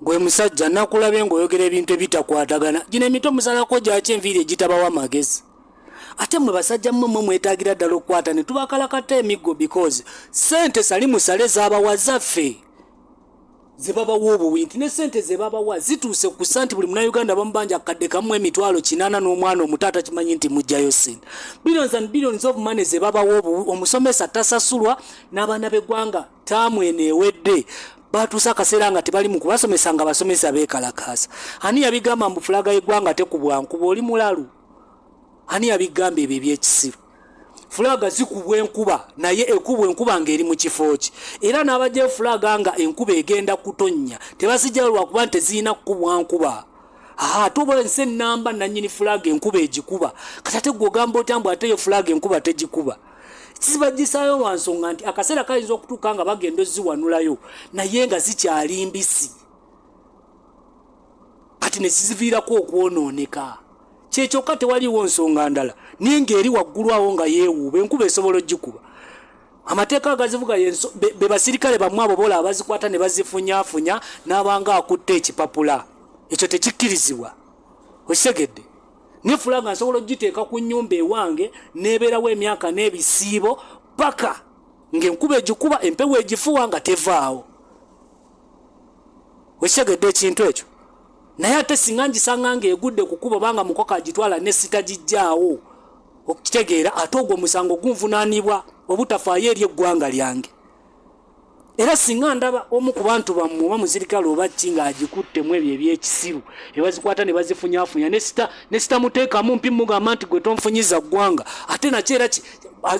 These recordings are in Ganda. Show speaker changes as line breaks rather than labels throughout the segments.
gwe musajja nakulabye ng'oyogera ebintu ebitakwatagana gino emito musalako gyaki enviiri egitabawo amagezi ate mwe basajja mmwe mwe mwetagira ddala okukwata ne tubakalakata emiggo because sente sali musale zabawa zaffe zebabawa obuwi nti ne sente zebabawa zituuse ku sa nti buli munauganda bamubanja akadde kamu emitwalo kinana n'omwana omutaata kimanyi nti mugjayo sente billions and billions of money zebabawa obuwi omusomesa tasasulwa n'abaana b'eggwanga taamu eno ewedde batuusa akaseera nga tebali mu kubasomesa nga basomesa beekalakaasa ani yabigamba mbu fulaga yeggwanga tekubwa nkuba oli mulalu ani yabigamba ebyo ebyekisiru fulaga zikubwa enkuba naye ekubwa enkuba nga eri mu kifo ki era n'abajja efulaga nga enkuba egenda kutonnya tebazijjayo lwakuba nti tezirina kukubwa nkuba ate oba ensi ennamba nannyini fulaga enkuba egikuba kati ate gwe ogamba otya mbu ate yo fulaga enkuba tegikuba sibajisaayo lwa nsonga nti akaseera kayinza okutuuka nga bagenda oziwanulayo naye nga zikyali mbisi kati nekiziviirako okwonooneka kyekyoka tewaliwo nsonga ndala naye ngaeri waggulu awo nga yeewuuba enkuba esobola ogikuba amateeka agazivuga be basirikale bamwe abo bola abazikwata ne bazifunyafunya n'abanga akutte ekipapula ekyo tekikkirizibwa okitegedde nefula nga nsobola okugiteeka ku nyumba ewange nebeerawo emyaka n'ebisiibo paka ngaenkuba egikuba empewo egifuwa nga tevaawo wekitegedde ekintu ekyo naye ate singa ngisanga nga egudde kukuba banga mukoko agitwala nesitagijjaawo okukitegeera ate ogwo omusango gunvunanibwa obutafaayo eri eggwanga lyange era singa ndaba omu ku bantu bammwe oba muzirikale oba ki ng'agikutte mu ebyo ebyekisiru ebazikwata ne bazifunyafunya ne sitamuteekamu mpi mugamba nti gwe tonfunyiza ggwanga ate nakyo era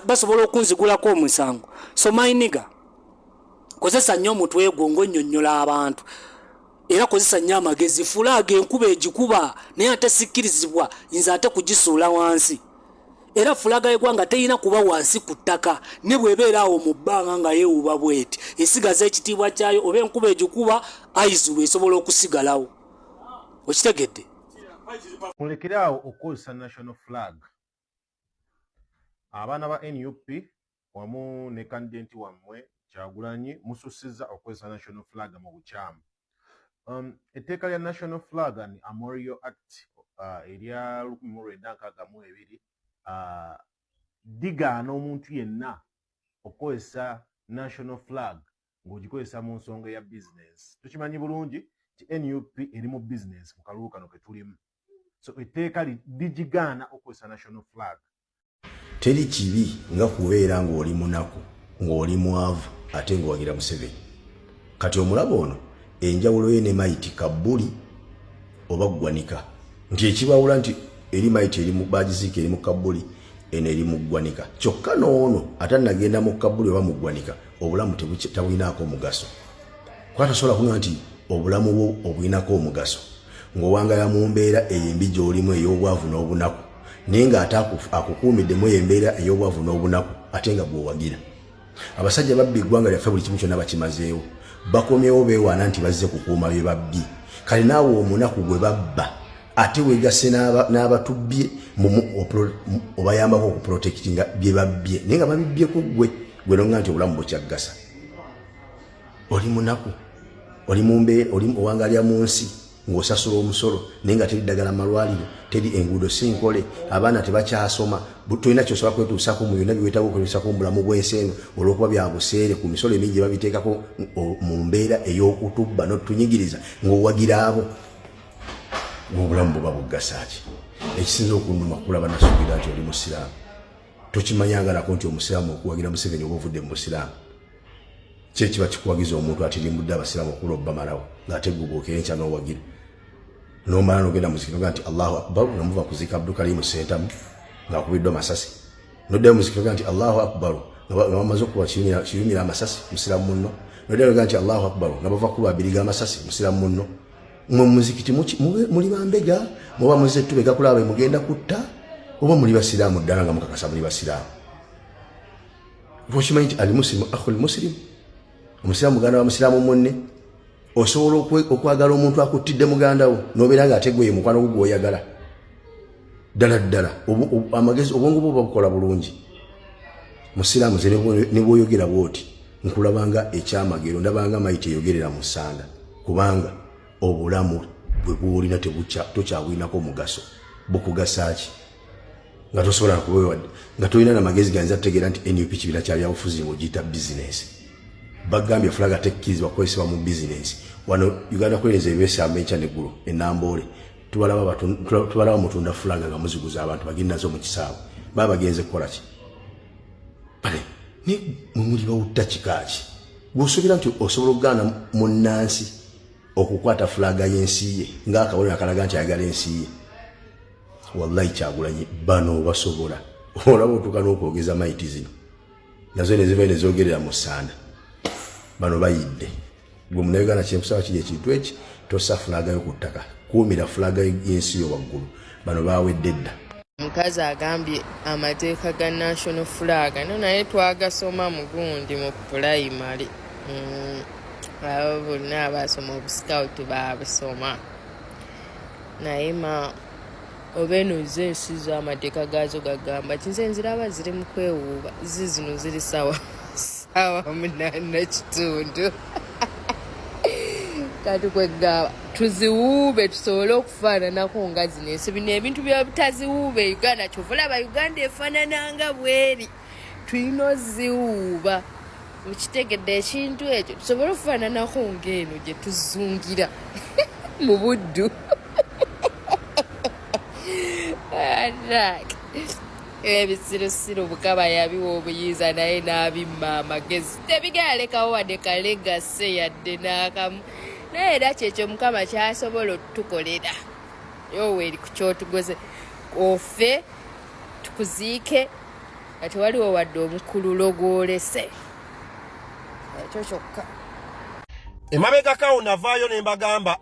basobola okunzigulako omusango so mayiniga kozesa nnyo omutwe gwo ng'onnyonnyola abantu era kozesa nnyo amagezi fulaaga enkuba egikuba naye ate sikkirizibwa nze ate kugisuula wansi era fulaaga yegwanga terina kuba wansi ku ttaka ne bwebeera awo mu bbanga nga yeewuba bweti esigaza ekitiibwa kyayo oba enkuba egikuba aizulu esobola okusigalawo okitegedde
mulekere awo okukozesa national flag abaana ba nup wamu ne kandidenti wammwe kyagulanyi musussizza okozesa national flag mu bukyamu um, etteeka lya national flag and amorio act uh, erya 1962 uh, digaana omuntu yenna okukozesa national flag ng'ogikozesa mu nsonga ya bizinensi tukimanyi bulungi nti nup eri mu bizinensi mu kalulu kano ke tulimu so etteeka ligigaana okukozesa national flag teri
kibi nga kubeera ng'oli munaku ng'oli mwavu ate ng'owagira museveni kati omulaba ono enjawulo ye ne mayiti kabbuli oba ggwanika nti ekibawula nti eri mayiti eri bagiziika eri mu kabbuli eno eri mu ggwanika kyokka n'ono ate nagenda mu kabbuli oba mu ggwanika obulamu tabulinaako omugaso kuba tasobola kuga nti obulamu bwo obulinako omugaso ng'owangala mu mbeera eyo embi gy'olimu ey'obwavu n'obunaku naye ng'ate akukuumiddemu eyo embeera ey'obwavu n'obunaku ate nga gweowagira abasajja babbi eggwanga lyaffe buli kimu kyonna bakimazeewo bakomyewo beewaana nti bazze kukuuma bye babbi kale naawe omunaku gwe babba ate wegase n'abatubbye obayambako okuprotektinga bye babbye naye nga babibbye ku ggwe gwe nonga nti obulamu bukyaggasa oli munaku oli mumbe oli owangalya mu nsi ng'osasula omusolo naye nga teri ddagala malwaliro teri enguudo si nkole abaana tebakyasoma tolina kyosobola kwetuusako mu byonna byewetaga okwetuusako mu bulamu bw'ensi eno olw'okuba byabuseere ku misolo emingi gye babiteekako mu mbeera ey'okutubba n'otunyigiriza ng'owagira abo ng'obulamu buba buggasaaki ekisinza okunuma kulaba nasuubira nti oli musiraamu tokimanyangalako nti omusiraamu okuwagira museveni oba ovudde mu busiraamu kyekiba kikuwagiza omuntu atirimbudde abasiramu okula obamalawo ngaate gubuuka enkya nowagira nomala nogenda muzikiro ga nti allahu akbar nomuva kuzika abdukalimu sentamu ngaakubiddwa masasi noddayo muzikiro ga nti allahu akbar nabamaze okuba kiyumira amasasi musiramu munno noddayo noga nti allahu akbar nabava kuba abiri ga masasi musiramu munno mwe muzikiti muli bambega muba muze tubega kulaba mugenda kutta oba muli basiraamu ddala nga mukakasa muli basiraamu okimanyi nti ali musilimu akhul musilimu omusiraamu muganda wa musiraamu munne osobola okwagala omuntu akuttidde muganda wo nobeera nga ate gweye mukwano gwo gwoyagala ddala ddala amagezi obwongo bwo babukola bulungi musiraamu ze ne bwoyogera bwoti nkulabanga ekyamagero ndabanga mayi teyogerera mu ssanda kubanga obulamu bwe bwolina tokyabwinako mugaso bukugasa ki nga tosobola kubewadde nga tolina na magezi ganza tutegeera nti nup kibiina kya byabufuzi ng'ogiyita bizinensi bagambye fulaga tekkirizibwa kukozesebwa mu bizinensi wano uganda kulenza ebyesamba enkya neggulo enamboole tubalaba mutunda fulaga nga muziguza abantu bagendazo mu kisaawe baba bagenze kukola ki bale ne mwe muli bawutta kika ki bw'osuubira nti osobola okugaana munnansi okukwata fulaga y'ensi ye ng'akabonero akalaga nti ayagala ensi ye wallahi kyagulanyi bano obasobola olaba otuuka n'okwogeza maiti zino nazo nezivayo nezogerera mu sanda bano bayidde gwe munauganda kyenkusaba kiri ekintu eki tosa fulagayo ku ttaka kuumira fulaga yensi yo waggulu bano bawedde dda omukazi
agambye amateeka ga national flag no naye twagasoma mugundi mu pulayimale mm, abo bonna abasoma obuscoutu babusoma naye ma oba eno zo ensi zo amateeka gaazo gagamba kinze nziraba ziri mu kwewuuba zi zino ziri sawa sawa munana kitundu kati kwegamba tuziwuube tusobole okufaananako nga zino ensi bino ebintu byabutaziwuube uganda kyova olaba uganda efaanananga bweri tulina oziwuuba mukitegedde ekintu ekyo tusobole okufaananako ngaeno gye tuzungira mu buddu ebisirusiru mukama yabiwa obuyinza naye n'abimma amagezi tebigalekawo wadde kalegase yadde n'akamu naye era kyekyo mukama kyasobola otutukolera yoweeri ku kyotugoze ofe tukuziike nga tewaliwo wadde omukululo gwolese ekyo kyokka
emabegakawo navaayo ne mbagamba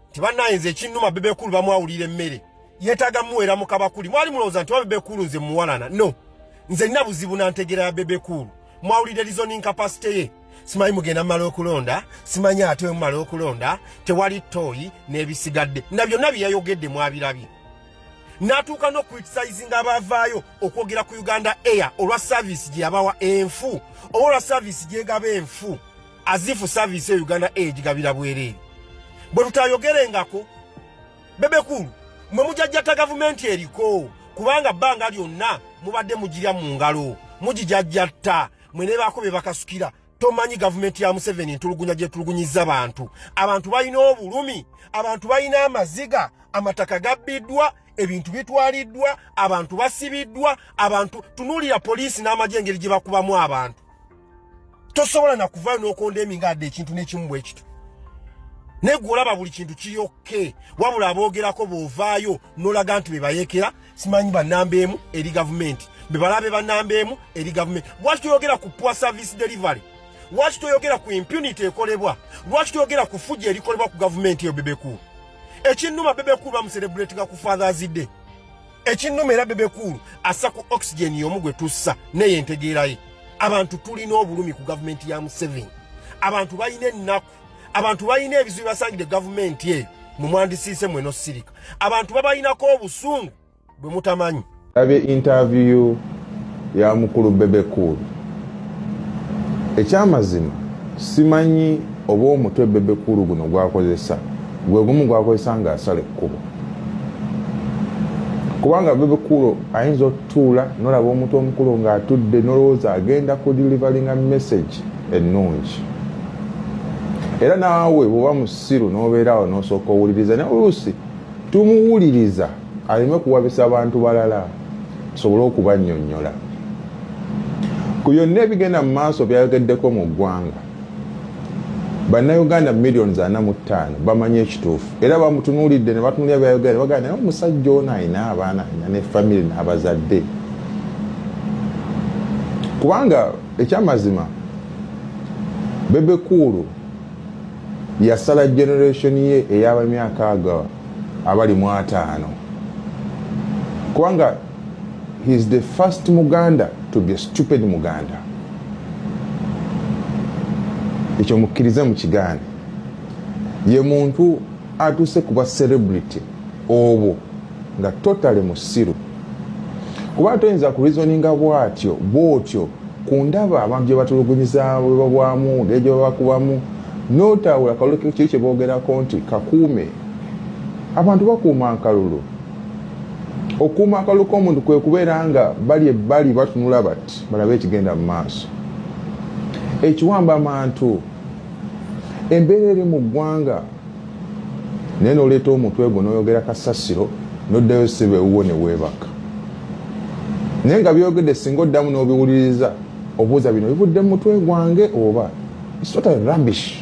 nti bannayinza ekinnuma bebekulu bamwawulira emmere yeetaaga muweera mu kabakuli mwali mulowooza nti babebekulu nze muwalana no nze nina buzibu na ntegeera ya bebekulu mwawulidde lizoning kapasite ye simanyi mugenda mumala okulonda simanyi ate wemumala okulonda tewali tooyi n'ebisigadde na byonna byeyayogedde mwabirabye natuuka n'okuritisizinga abaavaayo okwogera ku uganda air olwa saavisi gye yabawa enfu oba olwa saavisi gyegaba enfu azifu saavisi eyo uganda air gigabira bwereere bwe tutayogerengako bebekulu mwe mujajjata gavumenti eriko kubanga bbanga lyonna mubadde mugirya mu ngalo mugijajjatta mwe nebaako bye bakasukira tomanyi gavumenti ya museveni ntulugunya gyetulugunyiza bantu abantu balina obulumi abantu balina amaziga amataka gabbiddwa ebintu bitwaliddwa abantu basibiddwa abantu tunuulira poliisi n'amagye engeri gye bakubamu abantu tosobola nakuvayo nokonda eminga adde ekintu nekimu bwekito naye gwe olaba buli kintu kiyokke wabula aboogerako bwovaayo nolaga nti bebayekera simanyi banamba emu eri gavumenti bebalabe banamba emu eri gavumenti lwaki toyogera ku poor service delivery lwaki toyogera ku impunity ekolebwa lwaki toyogera ku fuja erikolebwa ku gavumenti eyo bebekulu ekinnuma bebekulu bamuserebuletinga ku fathers day ekinnuma era bebekulu assa ku oxygen yomu gwe tussa neyo entegeeraye abantu tulina obulumi ku gavumenti ya museveni abantu balina ennaku abantu balina ebizibu basangidde gavumenti eyo mwe mwandisiise mweno sirika abantu babalinako obusungu bwe mutamanyi abye intaviyu
ya mukulu bebe cool ekyamazima simanyi oba omutwe bebe cool guno gwakozesa gwe gumu gwakozesa nga asala ekkubo kubanga bebe cool ayinza otutuula nolaba omuntu omukulu nga atudde nolowooza agenda ku delivaringa message ennungi era naawe bwoba musiru nobeeraawo nosooka owuliriza naye oluusi tumuwuliriza aleme kuwabisa abantu balala tusobole okubanyonyola ku byonna ebigenda mu maaso byayogeddeko mu ggwanga bannayuganda millions ana mu ttaano bamanyi ekituufu era bamutunuulidde ne batunulira byayogera ne bagana naye omusajja ono alina abaana alina ne famire n'abazadde kubanga ekyamazima bebe kuulu yasala generation ye eyabamyaka ago abali mu ataano kubanga he is the first muganda to be a stupid muganda ekyo mukkirize mu kigaane ye muntu atuuse kuba celebrity obwo nga totale musiru kuba toyinza ku reasoninga bwatyo bwotyo ku ndaba abantu gye batulugunyiza bwebabwamu ngeri gye babakubamu notawula kalulu kiri kye boogerako nti kakuume abantu bakuuma akalulu okuuma akalulu k'omuntu kwe kubeera nga bali ebbali batunula bati balabe ekigenda mu maaso ekiwamba amantu embeera eri mu ggwanga naye noleeta omutwe gwo noyogera kasasiro noddayo siba ewuwo neweebaka naye nga byogedde singa oddamu n'obiwuliriza obuuza bino bivudde mu mutwe gwange oba isota rubbish